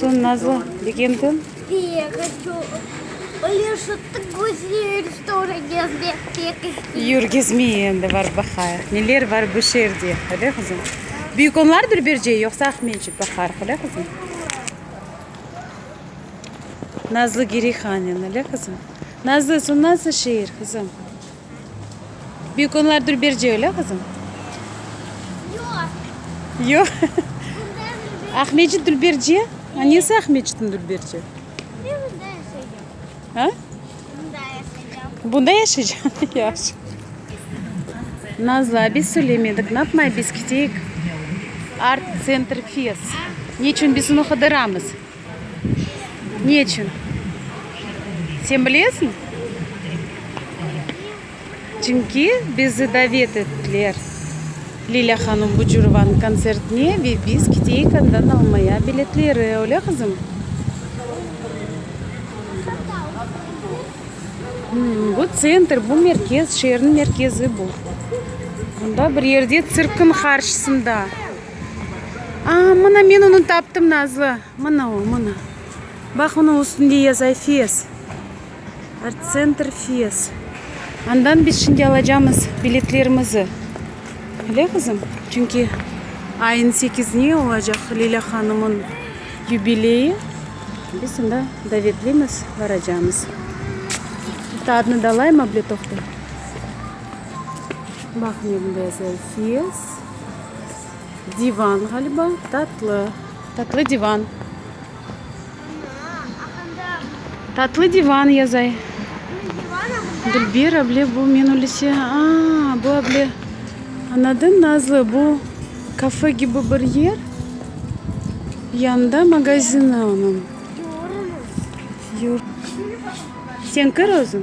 Soñ nazlı degen kim? Yur gezmey endi barıp baqayıq, neler bar bu şeerde, öyle qızım? Büyük onlardır Bercey, yoqsa Aqmescit baqarıq, öyle qızım? Nazlı Gireyhanen, öyle qızım? Nazlı, soñ nasıl şeer, qızım? Bir künler dülberce öyle qızım? Yoq. Yoq. Aqmecit dülberce? Ha, nesi Aqmecitin dülberce? Ben bunda yaşayacağım. Ha? Bunda yaşayacağım. Bunda yaşayacağım. Yaxşı. Nazla, biz söylemedik. Ne yapmay biz kiteyik? Art Center Fest. Neçün biz onu qıdıramız? Ne içün? Sen bilesiñ? Çünki bizi davet ettiler Lilâ hanım Bucurovanıñ kontsertine ve biz keteyik andan almaya biletleri, öyle qızım? Bu tsentr, bu merkez, şeerniñ merkezi bu. Bunda bir yerde tsirkniñ qarşısında. Aa, mına men onı taptım, Nazlı. Mına o, mına. Baq, onıñ üstünde yaza FES. Artsentr FES. Andan biz şimdi alacamız biletlerimizi. Öyle, qızım? Çünki ayın sekizine olacaq Leyla hanımın yubileyi. Biz onda davetlimiz, baracamız. Bitta adını da alayım, abletofta. Baq, ne bunda yazılı, FES. Divan ğaliba, tatlı. Tatlı divan. Tatlı divan yazay. Dilber able bu men öylese. Aa, bu able. Anladın Nazlı, bu kafe kibi bir yer. Yanında magazini onıñ. Sen kir özüñ.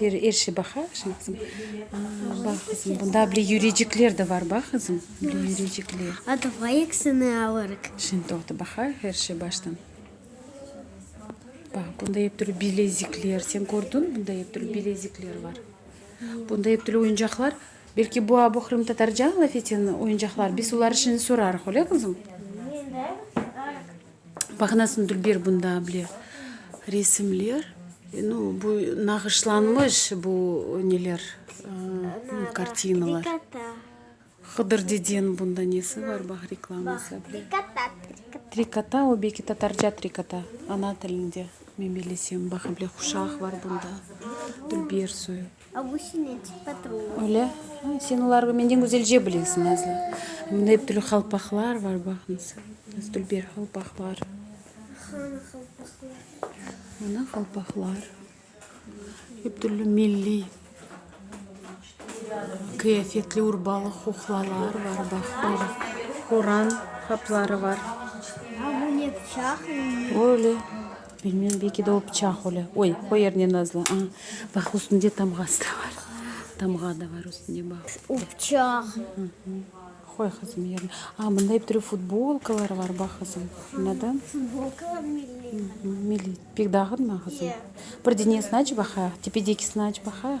Beri er şey baqa, şimdi qızım. Bax qızım, bunda bile yürecikler de bar, bax qızım, bile yürecikler. A davay eksini alırıq. Şimdi toqta, baqa, er şey baştan. Bax, bunda ep türlü bilezikler, sen kördiñ, bunda ep türlü bilezikler bar. Bunda ep türlü oyuncaqlar. Belki bu abu qırımtatarca laf eten oyuncaqlar, biz olar işini sorarıq, öyle qızım? Maqnasını Dülber bunda bile resimler, no bu nağışlanmış bu neler, ııı, kartinalar. Hıdır dedeni bunda nesi bar bax reklaması bile. Trikota, trikota. Trikota, o belki tatarca trikota, ana tilinde, men bilesem, baxa bile quşaq bar bunda, Dülber soyu. A bu sinetçi patruh. Öyle. Sen olarnı menden güzelce bilesiñ, Nazlı. Mında ep türlü qalpaqlar bar, baqıñız. Dülber qalpaqlar. Hanı qalpaqlar? Mına qalpaqlar. Ep türlü milliy qıyafetli urbalı quqlalar bar, baq, böyle. Quran qapları bar. A bu ne, pıçaq? Öyle. Bilmem, belki de o pıçaq öyle. Oy, o yer ne nazlı. Aa, baq, üstünde tamğası da bar. Tamğa da bar üstünde, baq. O pıçaq. Qoy, qızım, yerine. Aa, bunda ep türlü futbolkalar bar, baq, qızım. Anladın? O, futbolkalar milliy. Milliy. Pek dağıtma, qızım. Bir denesini aç baqayıq, tepedekisini aç baqayıq.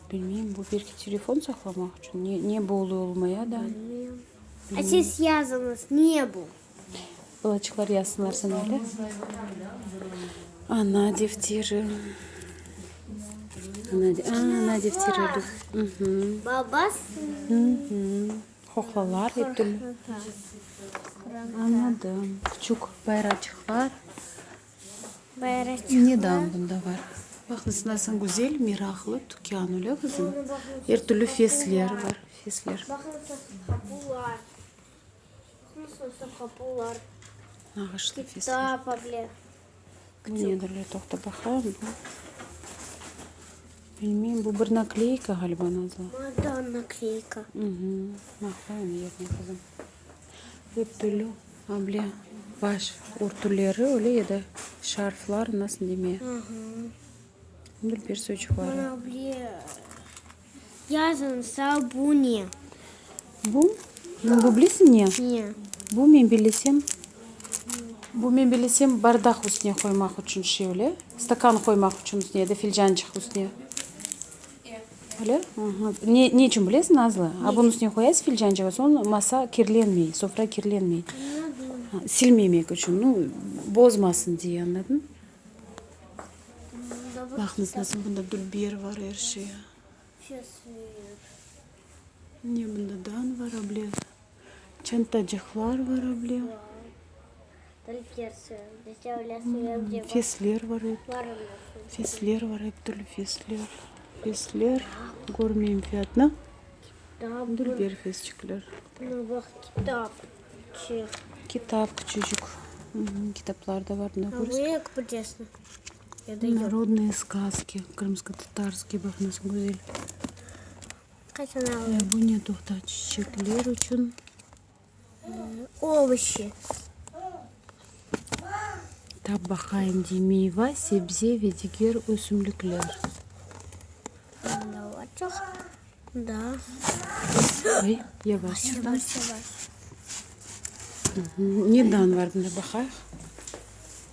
Bilmeyim, bu belki telefon saqlamaq içün, ne, ne bu oluy olmay ya da. Bilmeyim. A siz yazıñız, ne bu? Balaçıqlar yazsınlar sınavda. Ana defteri. Ana, a, ana defteri. Uhum. Babası. Uhum. Hohlalar hep türlü. Anladım. Küçük bayraçıqlar. Neden bunda bar? Baq, mesela, sen güzel, meraqlı tükân, öyle qızım? Er türlü fesler bar, fesler. Nağışlı fesler. Bu nedir, le, toqta baqayım. Bu, bilmeyim, bu bir nakleyka, ğaliba, nazlı. Baqayım yerine, qızım. Örtülü able, baş örtüleri, öyle ya da şarflar, nasıl deme. Bil bir sözcük var. Bana able, yazın sal bu ne? Bu? Sen bu bilesiñ ne? Ne? Bu men bilesem, bu men bilesem bardaq üstüne qoymaq içün şevle, stakan qoymaq içün üstüne ya da filcançıq üstüne. Öyle? Ne, ne içün bilesiz, Nazlı? A, bunıñ üstüne qoyasız filcançıkı, soñ masa kirlenmey, sofra kirlenmey. Silmemek içün, nu, bozmasın diye, añladın? Baqıñız, nasıl bunda biber bar, er şey. Ne bunda dan bar, ablez. Çantacıqlar var able. Fesler var ep. Fesler var ep türlü fesler. Fesler körmeyim fiyatnı. Dülber fesçikler. Kitap küçücük. Kitaplar da var. Narodnıye skazki. Krımskıtatarskıy bak nasıl güzel. Qaçan alındı? Bu ne toqta? Çiçekler içün. Ovuşi. Tap baqayım dey. Meyva, sebze ve diger ösümlikler. Bunda var çoq. Bunda. Ay, yavaş. Yavaş, yavaş. Nedan var bunda baqayıq.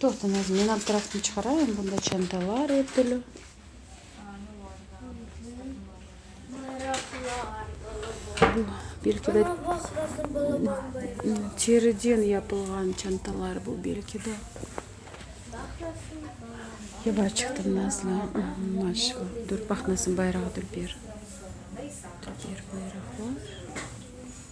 Toqtınız, men abdraftnı çıqarayım, bunda çantalar er türlü. Bu, belki de, teriden yapılğan çantalar bu, belki de. Yavaş çıqtım, nazlı, maşallah. Dur, paqnasın, bayraq dülber. Dülber, bayraqlar.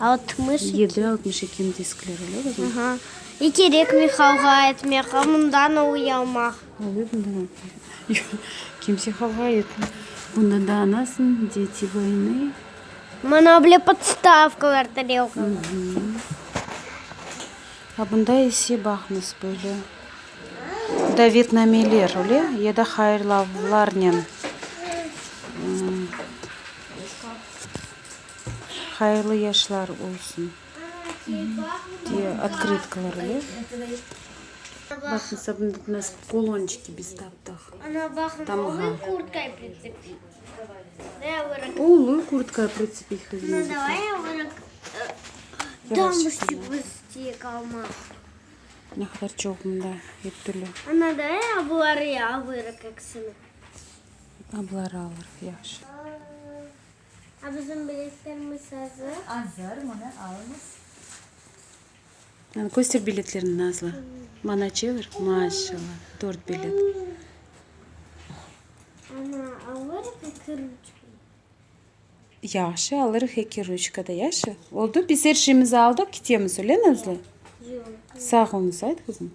Altmış iki. Yedi altmış ikini diskler öyle bazı? Aha. Ne kerek mi halğa etmek, a bundan a uyalmaq? Oluy bundan a uyalmaq. Kimse halğa etmey. Bundan da anasın, deti vayne. Mana bile podstavkalar, tarelkalar. A bunda ise baqnız böyle davetnameler öyle ya da hayırlavlarnen. Hayırlı yaşlar olsun diye otkritkalar ile. Bakın sabundık nasıl kolonçiki biz taptıq. Tamğa. Uluy kurtkaya pritsepil kızım. Ne kadar çoq mında ep türlü. Abları alırıq, yaxşı. A bizim biletlerimiz azır. Azır, mını alıñız. Köster biletlerini Nazlı. Mana çevir. Maşallah. Dört bilet. Ana alırıq eki ruçka. Yaxşı alırıq eki ruçka da yaxşı. Oldu biz her şeyimizi aldıq kitemiz öyle Nazlı? Yok. Sağ olunuz ayt kızım.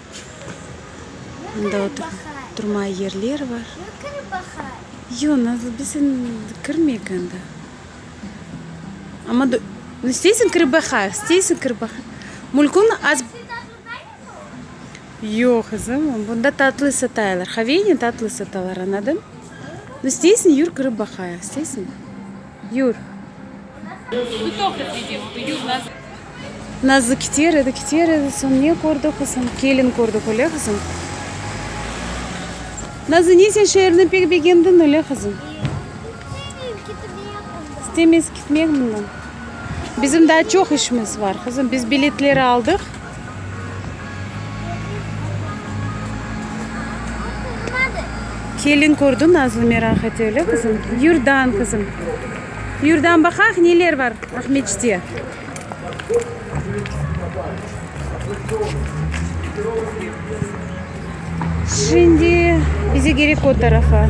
Mında oturmağa yerler bar. Yoq, Nazlıbek, sen kirmek anda. Amma da, isteysiñ kirip baqa, isteysiñ kirip baqa. Mülkün az. Yoq, qızım, bunda tatlı sataylar. Haveynen tatlı satalar, añladın? İsteysiñ, yür kirip baqa, isteysiñ? Yur. Nazlı kiter edi, kiter edi, soñ ne kördi qızım? Kelin kördi, öyle qızım? Nazlı, ne sen şeerni pek begendiñ, öyle qızım? İstemez kitmek bundan. Bizim daa çoq işimiz bar, qızım, biz biletleri aldıq. Kelin kördi nazlı meraq ete öyle qızım. Yurdan qızım. Yurdan baqaq neler var Aqmescitte. Şimdi bize gerek o tarafa.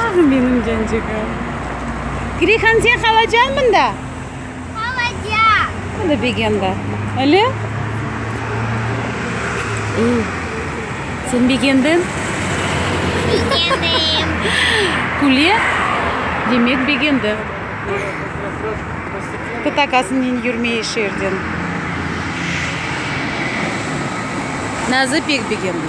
Ah, menim cancığım! Greyhan, sen qalacañ mında? Qalacam. O da Begemda. Öyle? Sen Begemden? Begendim. Küle? Demek, Begemda. Tutakasınen yürmey eş yerden. Nazı pek Begemda.